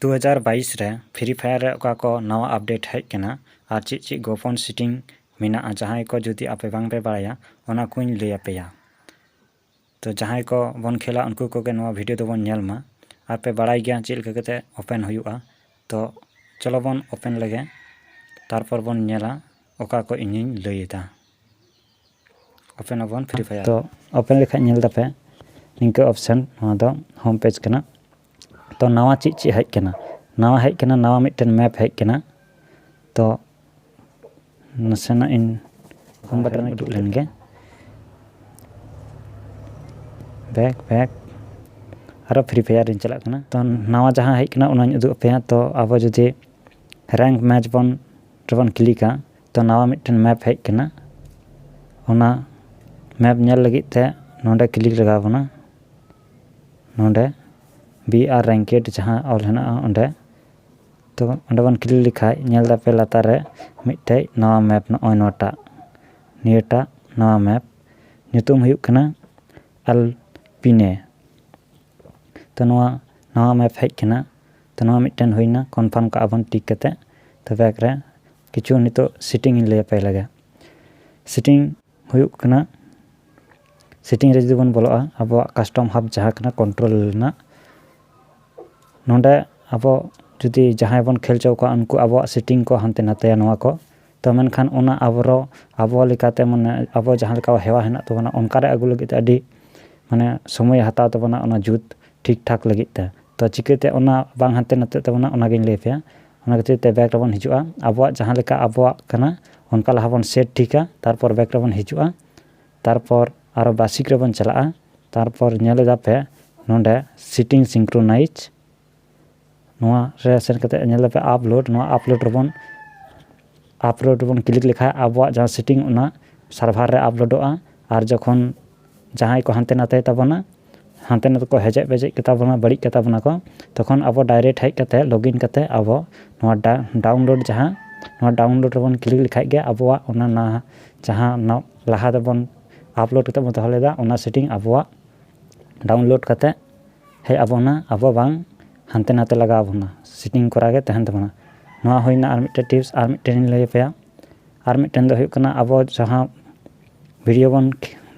ᱫᱩ ᱦᱟᱡᱟᱨ ᱵᱟᱭᱤᱥ ᱨᱮ ᱯᱷᱨᱤ ᱯᱷᱟᱭᱟᱨ ᱨᱮ ᱚᱠᱟ ᱠᱚ ᱱᱟᱣᱟ ᱟᱯᱰᱮᱴ ᱦᱮᱡ ᱟᱠᱟᱱᱟ ᱟᱨ ᱪᱮᱫ ᱪᱮᱫ ᱜᱚᱯᱚᱱ ᱥᱮᱴᱤᱝ ᱢᱮᱱᱟᱜᱼᱟ ᱡᱟᱦᱟᱸᱭ ᱠᱚ ᱡᱩᱫᱤ ᱟᱯᱮ ᱵᱟᱝ ᱯᱮ ᱵᱟᱲᱟᱭᱟ ᱚᱱᱟ ᱠᱚᱧ ᱞᱟᱹᱭ ᱟᱯᱮᱭᱟ ᱛᱚ ᱡᱟᱦᱟᱸᱭ ᱠᱚ ᱵᱚᱱ ᱠᱷᱮᱞᱟ ᱩᱱᱠᱩ ᱠᱚᱜᱮ ᱱᱚᱣᱟ ᱵᱷᱤᱰᱤᱭᱳ ᱫᱚᱵᱚᱱ ᱧᱮᱞ ᱢᱟ ᱟᱨ ᱯᱮ ᱵᱟᱲᱟᱭ ᱜᱮᱭᱟ ᱪᱮᱫ ᱞᱮᱠᱟ ᱠᱟᱛᱮ ᱳᱯᱮᱱ ᱦᱩᱭᱩᱜᱼᱟ ᱛᱚ ᱪᱚᱞᱚ ᱵᱚᱱ ᱳᱯᱮᱱ ᱞᱮᱜᱮ ᱛᱟᱨᱯᱚᱨ ᱵᱚᱱ ᱧᱮᱞᱟ ᱚᱠᱟ ᱠᱚ ᱤᱧᱤᱧ ᱞᱟᱹᱭᱮᱫᱟ ᱳᱯᱮᱱ ᱟᱵᱚᱱ ᱯᱷᱨᱤ ᱯᱷᱟᱭᱟᱨ ᱛᱚ ᱳᱯᱮᱱ ᱞᱮᱠᱷᱟᱡ ᱧᱮᱞ ᱫᱟᱯᱮ ᱱᱤᱝᱠᱟᱹ ᱚᱯᱥᱮᱱ ᱱᱚᱣᱟ ᱫᱚ ᱦᱳᱢ ᱯᱮᱡᱽ ᱠᱟᱱᱟ ᱛᱚ ᱱᱟᱣᱟ ᱪᱮᱫ ᱪᱮᱫ ᱦᱮᱡ ᱠᱟᱱᱟ ᱱᱟᱣᱟ ᱦᱮᱡ ᱠᱟᱱᱟ ᱱᱟᱣᱟ ᱢᱤᱫᱴᱮᱱ ᱢᱮᱯ ᱦᱮᱡ ᱠᱟᱱᱟ ᱛᱚ ᱱᱟᱥᱮᱱᱟᱜ ᱤᱧ ᱦᱳᱢ ᱵᱟᱴᱚᱱ ᱨᱮᱧ ᱠᱞᱤᱠ ᱞᱮᱱᱜᱮ ᱵᱮᱠ ᱵᱮᱠ ᱟᱨᱚ ᱯᱷᱨᱤ ᱯᱷᱟᱭᱟᱨ ᱨᱤᱧ ᱪᱟᱞᱟᱜ ᱠᱟᱱᱟ ᱛᱚ ᱱᱟᱣᱟ ᱡᱟᱦᱟᱸ ᱦᱮᱡ ᱠᱟᱱᱟ ᱚᱱᱟᱧ ᱩᱫᱩᱜ ᱟᱯᱮᱭᱟ ᱛᱚ ᱟᱵᱚ ᱡᱩᱫᱤ ᱨᱮᱝᱠ ᱢᱮᱪ ᱵᱚᱱ ᱨᱮᱵᱚᱱ ᱠᱞᱤᱠᱟ ᱛᱚ ᱱᱟᱣᱟ ᱢᱤᱫᱴᱮᱱ ᱢᱮᱯ ᱦᱮᱡ ᱟᱠᱟᱱᱟ ᱚᱱᱟ ᱢᱮᱯ ᱧᱮᱞ ᱞᱟᱹᱜᱤᱫ ᱛᱮ ᱱᱚᱰᱮ ᱠᱞᱤᱠ ᱞᱟᱜᱟᱣ ᱵᱚᱱᱟ ᱱᱚᱰᱮ ᱵᱤ ᱟᱨ ᱨᱮᱝᱠᱮᱰ ᱡᱟᱦᱟᱸ ᱚᱞ ᱦᱮᱱᱟᱜᱼᱟ ᱚᱸᱰᱮ ᱛᱚ ᱚᱸᱰᱮ ᱵᱚᱱ ᱠᱞᱤᱠ ᱞᱮᱠᱷᱟᱡ ᱧᱮᱞ ᱫᱟᱯᱮ ᱞᱟᱛᱟᱨ ᱨᱮ ᱢᱤᱫᱴᱮᱡ ᱱᱟᱣᱟ ᱢᱮᱯ ᱱᱚᱜᱼᱚᱭ ᱱᱚᱣᱟᱴᱟᱜ ᱱᱤᱭᱟᱹᱴᱟᱜ ᱱᱟᱣᱟ ᱢᱮᱯ ᱧᱩᱛᱩᱢ ᱦᱩᱭᱩᱜ ᱠᱟᱱᱟ ᱟᱞ ᱯᱤᱱᱮ ᱛᱚ ᱱᱚᱣᱟ ᱱᱟᱣᱟ ᱢᱮᱯ ᱦᱮᱡ ᱟᱠᱟᱱᱟ ᱛᱚ ᱱᱚᱣᱟ ᱢᱤᱫᱴᱮᱱ ᱦᱩᱭᱱᱟ ᱠᱚᱱᱯᱷᱟᱨᱢ ᱠᱟᱜᱼᱟ ᱵᱚᱱ ᱴᱤᱠ ᱠᱟᱛᱮ ᱛᱚ ᱵᱮᱠ ᱨᱮ ᱠᱤᱪᱷᱩ ᱱᱤᱛᱚᱜ ᱥᱤᱴᱤᱝ ᱤᱧ ᱞᱟᱹᱭᱟᱯᱮ ᱞᱮᱜᱮ ᱥᱤᱴᱤᱝ ᱦᱩᱭᱩᱜ ᱠᱟᱱᱟ ᱥᱤᱴᱤᱝ ᱨᱮ ᱡᱩᱫᱤ ᱵᱚᱱ ᱵᱚᱞᱚᱜᱼᱟ ᱟᱵᱚᱣᱟᱜ ᱠᱟᱥᱴᱚᱢ ᱦᱟᱵ ᱡᱟᱦᱟᱸ ᱠᱟᱱᱟ ᱠᱚᱱᱴᱨᱳᱞ ᱨᱮᱱᱟᱜ ᱱᱚᱰᱮ ᱟᱵᱚ ᱡᱩᱫᱤ ᱡᱟᱦᱟᱸᱭ ᱵᱚᱱ ᱠᱷᱮᱞ ᱦᱚᱪᱚ ᱠᱚᱣᱟ ᱩᱱᱠᱩ ᱟᱵᱚᱣᱟᱜ ᱥᱤᱴᱤᱝ ᱠᱚ ᱦᱟᱱᱛᱮ ᱱᱟᱛᱮᱭᱟ ᱱᱚᱣᱟ ᱠᱚ ᱛᱚ ᱢᱮᱱᱠᱷᱟᱱ ᱚᱱᱟ ᱟᱵᱚᱨᱚ ᱟᱵᱚ ᱞᱮᱠᱟᱛᱮ ᱢᱟᱱᱮ ᱟᱵᱚ ᱡᱟᱦᱟᱸ ᱞᱮᱠᱟ ᱦᱮᱣᱟ ᱦᱮᱱᱟᱜ ᱛᱟᱵᱚᱱᱟ ᱚᱱᱠᱟ ᱨᱮ ᱟᱹᱜᱩ ᱞᱟᱹᱜᱤᱫ ᱛᱮ ᱟᱹᱰᱤ ᱢᱟᱱᱮ ᱥᱚᱢᱚᱭᱮ ᱦᱟᱛᱟᱣ ᱛᱟᱵᱚᱱᱟ ᱚᱱᱟ ᱡᱩᱛ ᱴᱷᱤᱠ ᱴᱷᱟᱠ ᱞᱟᱹᱜᱤᱫ ᱛᱮ ᱛᱚ ᱪᱤᱠᱟᱹᱛᱮ ᱚᱱᱟ ᱵᱟᱝ ᱦᱟᱱᱛᱮ ᱱᱟᱛᱮᱜ ᱛᱟᱵᱚᱱᱟ ᱚᱱᱟᱜᱤᱧ ᱞᱟᱹᱭᱟᱯᱮᱭᱟ ᱚᱱᱟ ᱠᱷᱟᱹᱛᱤᱨ ᱛᱮ ᱵᱮᱠ ᱨᱮᱵᱚᱱ ᱦᱤᱡᱩᱜᱼᱟ ᱟᱵᱚᱣᱟᱜ ᱡᱟᱦᱟᱸ ᱞᱮᱠᱟ ᱟᱵᱚᱣᱟᱜ ᱠᱟᱱᱟ ᱚᱱᱠᱟ ᱞᱟᱦᱟ ᱵᱚᱱ ᱥᱮᱴ ᱴᱷᱤᱠᱟ ᱛᱟᱨᱯᱚᱨ ᱵᱮᱠ ᱨᱮᱵᱚᱱ ᱦᱤᱡᱩᱜᱼᱟ ᱛᱟᱨᱯᱚᱨ ᱟᱨᱚ ᱵᱟᱥᱤᱠ ᱨᱮᱵᱚᱱ ᱪᱟᱞᱟᱜᱼᱟ ᱛᱟᱨᱯᱚᱨ ᱧᱮᱞ ᱮᱫᱟ ᱯᱮ ᱱᱚᱰᱮ ᱥᱤᱴᱤᱝ ᱥᱤᱝᱠᱨᱳᱱᱟᱭᱤᱡᱽ ᱱᱚᱣᱟ ᱨᱮ ᱥᱮᱱ ᱠᱟᱛᱮ ᱧᱮᱞ ᱫᱟᱯᱮ ᱟᱯᱞᱳᱰ ᱱᱚᱣᱟ ᱟᱯᱞᱳᱰ ᱨᱮᱵᱚᱱ ᱟᱯᱞᱳᱰ ᱵᱚᱱ ᱠᱞᱤᱠ ᱞᱮᱠᱷᱟᱱ ᱟᱵᱚᱣᱟᱜ ᱡᱟᱦᱟᱸ ᱥᱮᱴᱤᱝ ᱚᱱᱟ ᱥᱟᱨᱵᱷᱟᱨ ᱨᱮ ᱟᱯᱞᱳᱰᱚᱜᱼᱟ ᱟᱨ ᱡᱚᱠᱷᱚᱱ ᱡᱟᱦᱟᱸᱭ ᱠᱚ ᱦᱟᱱᱛᱮ ᱱᱟᱛᱮᱭ ᱛᱟᱵᱚᱱᱟ ᱦᱟᱱᱛᱮ ᱱᱟᱛᱮ ᱠᱚ ᱦᱮᱡᱮᱡ ᱯᱮᱡᱮᱡ ᱠᱟᱛᱟ ᱵᱚᱱᱟ ᱵᱟᱹᱲᱤᱡ ᱠᱟᱛᱟ ᱵᱚᱱᱟ ᱠᱚ ᱛᱚᱠᱷᱚᱱ ᱟᱵᱚ ᱰᱟᱭᱨᱮᱠᱴ ᱦᱮᱡ ᱠᱟᱛᱮᱫ ᱞᱚᱜᱤᱱ ᱠᱟᱛᱮᱫ ᱟᱵᱚ ᱱᱚᱣᱟ ᱰᱟᱣᱩᱱᱞᱳᱰ ᱡᱟᱦᱟᱸ ᱱᱚᱣᱟ ᱰᱟᱣᱩᱱᱞᱳᱰ ᱨᱮᱵᱚᱱ ᱠᱞᱤᱠ ᱞᱮᱠᱷᱟᱱ ᱜᱮ ᱟᱵᱚᱣᱟᱜ ᱚᱱᱟ ᱱᱟᱦᱟᱜ ᱡᱟᱦᱟᱸ ᱞᱟᱦᱟ ᱨᱮᱵᱚᱱ ᱟᱯᱞᱳᱰ ᱠᱟᱛᱮᱫ ᱵᱚᱱ ᱫᱚᱦᱚ ᱞᱮᱫᱟ ᱚᱱᱟ ᱥᱮᱴᱤᱝ ᱟᱵᱚᱣᱟᱜ ᱰᱟᱣᱩᱱᱞᱳᱰ ᱠᱟᱛᱮᱫ ᱦᱮᱡ ᱟᱵᱚᱱᱟ ᱟᱵᱚ ᱵᱟᱝ ᱦᱟᱱᱛᱮ ᱱᱟᱛᱮ ᱞᱟᱜᱟᱣ ᱟᱵᱚᱱᱟ ᱥᱤᱴᱤᱝ ᱠᱚᱨᱟᱣ ᱜᱮ ᱛᱟᱦᱮᱱ ᱛᱟᱵᱚᱱᱟ ᱱᱚᱣᱟ ᱦᱩᱭᱱᱟ ᱟᱨ ᱢᱤᱫᱴᱮᱱ ᱴᱤᱯᱥ ᱟᱨ ᱢᱤᱫᱴᱮᱱ ᱤᱧ ᱞᱟᱹᱭ ᱟᱯᱮᱭᱟ ᱟᱨ ᱢᱤᱫᱴᱮᱱ ᱫᱚ ᱦᱩᱭᱩᱜ ᱠᱟᱱᱟ ᱟᱵᱚ ᱡᱟᱦᱟᱸ ᱵᱷᱤᱰᱭᱳ ᱵᱚᱱ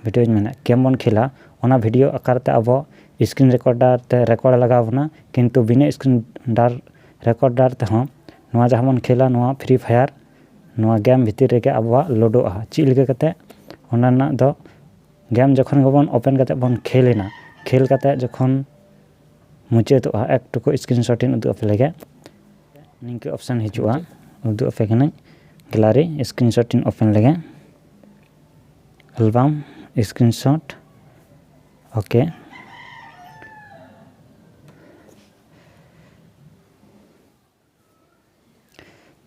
ᱵᱷᱤᱰᱭᱳᱧ ᱢᱮᱱᱮᱫ ᱜᱮᱢ ᱵᱚᱱ ᱠᱷᱮᱞᱟ ᱚᱱᱟ ᱵᱷᱤᱰᱭᱳ ᱟᱠᱟᱨ ᱛᱮ ᱟᱵᱚ ᱥᱠᱨᱤᱱ ᱨᱮᱠᱳᱰᱟᱨ ᱛᱮ ᱨᱮᱠᱳᱰ ᱞᱟᱜᱟᱣ ᱟᱵᱚᱱᱟ ᱠᱤᱱᱛᱩ ᱵᱤᱱᱟᱹ ᱥᱠᱨᱤᱱ ᱰᱟᱨ ᱨᱮᱠᱳᱰᱟᱨ ᱛᱮᱦᱚᱸ ᱱᱚᱣᱟ ᱡᱟᱦᱟᱸ ᱵᱚᱱ ᱠᱷᱮᱞᱟ ᱱᱚᱣᱟ ᱯᱷᱨᱤ ᱯᱷᱟᱭᱟᱨ ᱱᱚᱣᱟ ᱜᱮᱢ ᱵᱷᱤᱛᱤᱨ ᱨᱮᱜᱮ ᱟᱵᱚᱣᱟᱜ ᱞᱳᱰᱳᱜᱼᱟ ᱪᱮᱫ ᱞᱮᱠᱟ ᱠᱟᱛᱮᱫ ᱚᱱᱟ ᱨᱮᱱᱟᱜ ᱫᱚ ᱜᱮᱢ ᱡᱚᱠᱷᱚᱱ ᱜᱮᱵᱚᱱ ᱳᱯᱮᱱ ᱠᱟᱛᱮᱫ ᱵᱚᱱ ᱠᱷᱮᱞ ᱮᱱᱟ ᱠᱷᱮᱞ ᱠᱟᱛᱮᱫ ᱡᱚᱠᱷᱚᱱ ᱢᱩᱪᱟᱹᱫᱚᱜᱼᱟ ᱮᱠ ᱴᱩᱠᱩ ᱥᱠᱨᱤᱱ ᱥᱚᱴ ᱤᱧ ᱩᱫᱩᱜ ᱟᱯᱮ ᱞᱮᱜᱮ ᱱᱤᱝᱠᱟᱹ ᱚᱯᱷᱥᱮᱱ ᱦᱤᱡᱩᱜᱼᱟ ᱩᱫᱩᱜ ᱟᱯᱮ ᱠᱟᱹᱱᱟᱹᱧ ᱜᱮᱞᱟᱨᱤ ᱥᱠᱨᱤᱱ ᱥᱚᱴ ᱤᱧ ᱳᱯᱮᱱ ᱞᱮᱜᱮ ᱮᱞᱵᱟᱢ ᱥᱠᱨᱤᱱ ᱥᱚᱴ ᱳᱠᱮ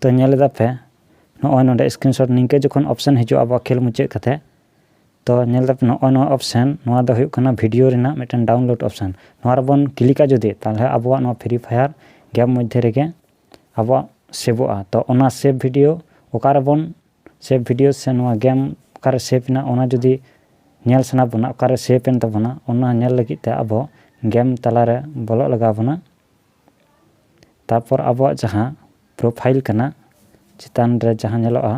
ᱛᱚ ᱧᱮᱞ ᱮᱫᱟ ᱯᱮ ᱱᱚᱜᱼᱚᱭ ᱱᱚᱰᱮ ᱥᱠᱨᱤᱱᱥᱚᱴ ᱱᱤᱝᱠᱟᱹ ᱡᱚᱠᱷᱚᱱ ᱚᱯᱥᱮᱱ ᱦᱤᱡᱩᱜᱼᱟ ᱟᱵᱚᱣᱟᱜ ᱠᱷᱮᱞ ᱢᱩᱪᱟᱹᱫ ᱠᱟᱛᱮ ᱛᱚ ᱧᱮᱞ ᱮᱫᱟ ᱯᱮ ᱱᱚᱜᱼᱚᱭ ᱱᱚᱣᱟ ᱚᱯᱥᱮᱱ ᱱᱚᱣᱟ ᱫᱚ ᱦᱩᱭᱩᱜ ᱠᱟᱱᱟ ᱵᱷᱤᱰᱤᱭᱳ ᱨᱮᱱᱟᱜ ᱢᱤᱫᱴᱮᱱ ᱰᱟᱣᱩᱱᱞᱳᱰ ᱚᱯᱥᱮᱱ ᱱᱚᱣᱟ ᱨᱮᱵᱚᱱ ᱠᱞᱤᱠᱟ ᱡᱩᱫᱤ ᱛᱟᱦᱚᱞᱮ ᱟᱵᱚᱣᱟᱜ ᱱᱚᱣᱟ ᱯᱷᱨᱤ ᱯᱷᱟᱭᱟᱨ ᱜᱮᱢ ᱢᱚᱫᱽᱫᱷᱮ ᱨᱮᱜᱮ ᱟᱵᱚᱣᱟᱜ ᱥᱮᱵᱷᱚᱜᱼᱟ ᱛᱚ ᱚᱱᱟ ᱥᱮᱵᱷ ᱵᱷᱤᱰᱤᱭᱳ ᱚᱠᱟᱨᱮᱵᱚᱱ ᱥᱮᱵᱷ ᱵᱷᱤᱰᱤᱭᱳ ᱥᱮ ᱱᱚᱣᱟ ᱜᱮᱢ ᱚᱠᱟᱨᱮ ᱥᱮᱵᱷ ᱮᱱᱟ ᱚᱱᱟ ᱡᱩᱫᱤ ᱧᱮᱞ ᱥᱟᱱᱟ ᱵᱚᱱᱟ ᱚᱠᱟᱨᱮ ᱥᱮᱵᱷ ᱮᱱ ᱛᱟᱵᱚᱱᱟ ᱚᱱᱟ ᱧᱮᱞ ᱞᱟᱹᱜᱤᱫ ᱛᱮ ᱟᱵᱚ ᱜᱮᱢ ᱛᱟᱞᱟᱨᱮ ᱵᱚᱞᱚᱜ ᱞᱟᱜᱟᱣ ᱵᱚᱱᱟ ᱛᱟᱨᱯᱚᱨ ᱟᱵᱚᱣᱟᱜ ᱡᱟᱦᱟᱸ ᱯᱨᱚᱯᱷᱟᱭᱤᱞ ᱠᱟᱱᱟ ᱪᱮᱛᱟᱱ ᱨᱮ ᱡᱟᱦᱟᱸ ᱧᱮᱞᱚᱜᱼᱟ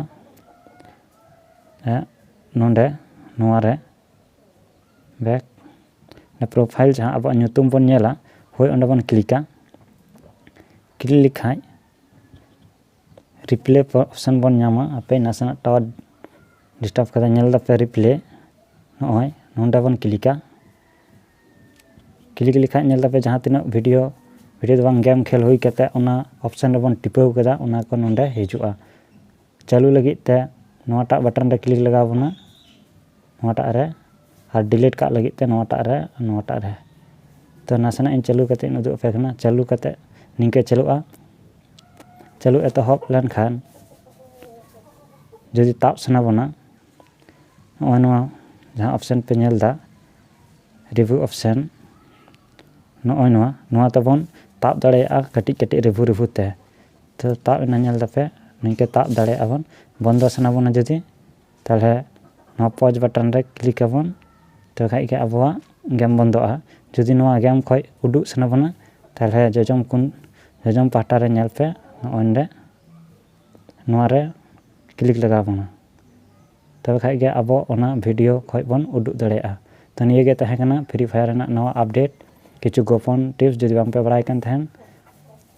ᱱᱚᱰᱮ ᱱᱚᱣᱟ ᱨᱮ ᱵᱮᱠ ᱯᱨᱚᱯᱷᱟᱭᱤᱞ ᱡᱟᱦᱟᱸ ᱟᱵᱚᱣᱟᱜ ᱧᱩᱛᱩᱢ ᱵᱚᱱ ᱧᱮᱞᱟ ᱦᱳᱭ ᱚᱸᱰᱮ ᱵᱚᱱ ᱠᱞᱤᱠᱟ ᱠᱞᱤᱠ ᱞᱮᱠᱷᱟᱡ ᱨᱤᱯᱞᱮ ᱚᱯᱥᱮᱱ ᱵᱚᱱ ᱧᱟᱢᱟ ᱟᱯᱮ ᱱᱟᱥᱮᱱᱟᱜ ᱴᱟᱣᱟᱨ ᱰᱤᱥᱴᱟᱵᱽ ᱠᱟᱫᱟ ᱧᱮᱞ ᱫᱟᱯᱮ ᱨᱤᱯᱞᱮ ᱱᱚᱜᱼᱚᱭ ᱱᱚᱰᱮ ᱵᱚᱱ ᱠᱞᱤᱠᱟ ᱠᱞᱤᱠ ᱞᱮᱠᱷᱟᱡ ᱧᱮᱞ ᱫᱟᱯᱮ ᱡᱟᱦᱟᱸ ᱛᱤᱱᱟᱹᱜ ᱵᱷᱤᱰᱤᱭᱳ ᱵᱷᱤᱰᱤᱭᱳ ᱫᱚ ᱵᱟᱝ ᱜᱮᱢ ᱠᱷᱮᱞ ᱦᱩᱭ ᱠᱟᱛᱮ ᱚᱱᱟ ᱚᱯᱷᱥᱮᱱ ᱨᱮᱵᱚᱱ ᱴᱤᱯᱟᱹᱣ ᱠᱮᱫᱟ ᱚᱱᱟ ᱠᱚ ᱱᱚᱰᱮ ᱦᱤᱡᱩᱜᱼᱟ ᱪᱟᱹᱞᱩ ᱞᱟᱹᱜᱤᱫ ᱛᱮ ᱱᱚᱣᱟᱴᱟᱜ ᱵᱟᱴᱚᱱ ᱨᱮ ᱠᱞᱤᱠ ᱞᱟᱜᱟᱣ ᱵᱚᱱᱟ ᱱᱚᱣᱟᱴᱟᱜ ᱨᱮ ᱟᱨ ᱰᱤᱞᱤᱴ ᱠᱟᱜ ᱞᱟᱹᱜᱤᱫ ᱛᱮ ᱱᱚᱣᱟᱴᱟᱜ ᱨᱮ ᱱᱚᱣᱟᱴᱟᱜ ᱨᱮ ᱛᱚ ᱱᱟᱥᱮᱱᱟᱜ ᱤᱧ ᱪᱟᱹᱞᱩ ᱠᱟᱛᱮ ᱤᱧ ᱩᱫᱩᱜ ᱟᱯᱮ ᱠᱟᱱᱟ ᱪᱟᱹᱞᱩ ᱠᱟᱛᱮ ᱱᱤᱝᱠᱟᱹ ᱪᱟᱹᱞᱩᱜᱼᱟ ᱪᱟᱹᱞᱩ ᱮᱛᱚᱦᱚᱵ ᱞᱮᱱᱠᱷᱟᱱ ᱡᱩᱫᱤ ᱛᱟᱵ ᱥᱟᱱᱟ ᱵᱚᱱᱟ ᱱᱚᱜᱼᱚᱭ ᱱᱚᱣᱟ ᱡᱟᱦᱟᱸ ᱚᱯᱷᱥᱮᱱ ᱯᱮ ᱧᱮᱞᱫᱟ ᱨᱤᱵᱷᱩ ᱚᱯᱥᱮᱱ ᱱᱚᱜᱼᱚᱭ ᱱᱚᱣᱟ ᱱᱚᱣᱟ ᱛᱮᱵᱚᱱ ᱛᱟᱵ ᱫᱟᱲᱮᱭᱟᱜᱼᱟ ᱠᱟᱹᱴᱤᱡ ᱠᱟᱹᱴᱤᱡ ᱨᱤᱵᱷᱩ ᱨᱤᱵᱷᱩ ᱛᱮ ᱛᱚ ᱛᱟᱵ ᱮᱱᱟ ᱧᱮᱞ ᱫᱟᱯᱮ ᱱᱤᱝᱠᱟᱹ ᱛᱟᱵ ᱫᱟᱲᱮᱭᱟᱜᱼᱟ ᱵᱚᱱ ᱵᱚᱱᱫᱚ ᱥᱟᱱᱟ ᱵᱚᱱᱟ ᱡᱩᱫᱤ ᱛᱟᱦᱚᱞᱮ ᱱᱚᱣᱟ ᱯᱚᱡᱽ ᱵᱟᱴᱚᱱ ᱨᱮ ᱠᱞᱤᱠ ᱟᱵᱚᱱ ᱛᱚᱵᱮ ᱠᱷᱟᱱ ᱜᱮ ᱟᱵᱚᱣᱟᱜ ᱜᱮᱢ ᱵᱚᱱᱫᱚᱜᱼᱟ ᱡᱩᱫᱤ ᱱᱚᱣᱟ ᱜᱮᱢ ᱠᱷᱚᱱ ᱩᱰᱩᱠ ᱥᱟᱱᱟ ᱵᱚᱱᱟ ᱛᱟᱦᱚᱞᱮ ᱡᱚᱡᱚᱢ ᱠᱚᱱ ᱡᱚᱡᱚᱢ ᱯᱟᱦᱴᱟ ᱨᱮ ᱧᱮᱞ ᱯᱮ ᱱᱚᱜᱼᱚᱭ ᱱᱚᱰᱮ ᱱᱚᱣᱟᱨᱮ ᱠᱞᱤᱠ ᱞᱟᱜᱟᱣ ᱵᱚᱱᱟ ᱛᱚᱵᱮ ᱠᱷᱟᱡ ᱜᱮ ᱟᱵᱚ ᱚᱱᱟ ᱵᱷᱤᱰᱤᱭᱳ ᱠᱷᱚᱡ ᱵᱚᱱ ᱩᱫᱩᱜ ᱫᱟᱲᱮᱭᱟᱜᱼᱟ ᱛᱚ ᱱᱤᱭᱟᱹ ᱜᱮ ᱛᱟᱦᱮᱸ ᱠᱟᱱᱟ ᱯᱷᱨᱤ ᱯᱷᱟᱭᱟᱨ ᱨᱮᱱᱟᱜ ᱱᱟᱣᱟ ᱟᱯᱰᱮᱴ ᱠᱤᱪᱷᱩ ᱜᱳᱯᱚᱱ ᱴᱤᱯᱥ ᱡᱩᱫᱤ ᱵᱟᱝ ᱯᱮ ᱵᱟᱲᱟᱭ ᱠᱟᱱ ᱛᱟᱦᱮᱱ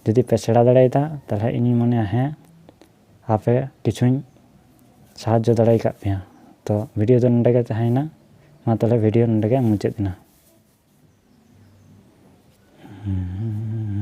ᱡᱩᱫᱤ ᱯᱮ ᱥᱮᱬᱟ ᱫᱟᱲᱮᱭᱟᱫᱟ ᱛᱟᱦᱚᱞᱮ ᱤᱧᱤᱧ ᱢᱚᱱᱮᱭᱟ ᱦᱮᱸ ᱟᱯᱮ ᱠᱤᱪᱷᱩᱧ ᱥᱟᱦᱟᱡᱽᱡᱚ ᱫᱟᱲᱮ ᱟᱠᱟᱫ ᱯᱮᱭᱟ ᱛᱚ ᱵᱷᱤᱰᱤᱭᱳ ᱫᱚ ᱱᱚᱰᱮ ᱜᱮ ᱛᱟᱦᱮᱸᱭᱮᱱᱟ ᱢᱟ ᱛᱟᱦᱚᱞᱮ ᱵᱷᱤᱰᱤᱭᱳ ᱱᱚᱰᱮ ᱜᱮ ᱢᱩᱪᱟᱹᱫ ᱮᱱᱟ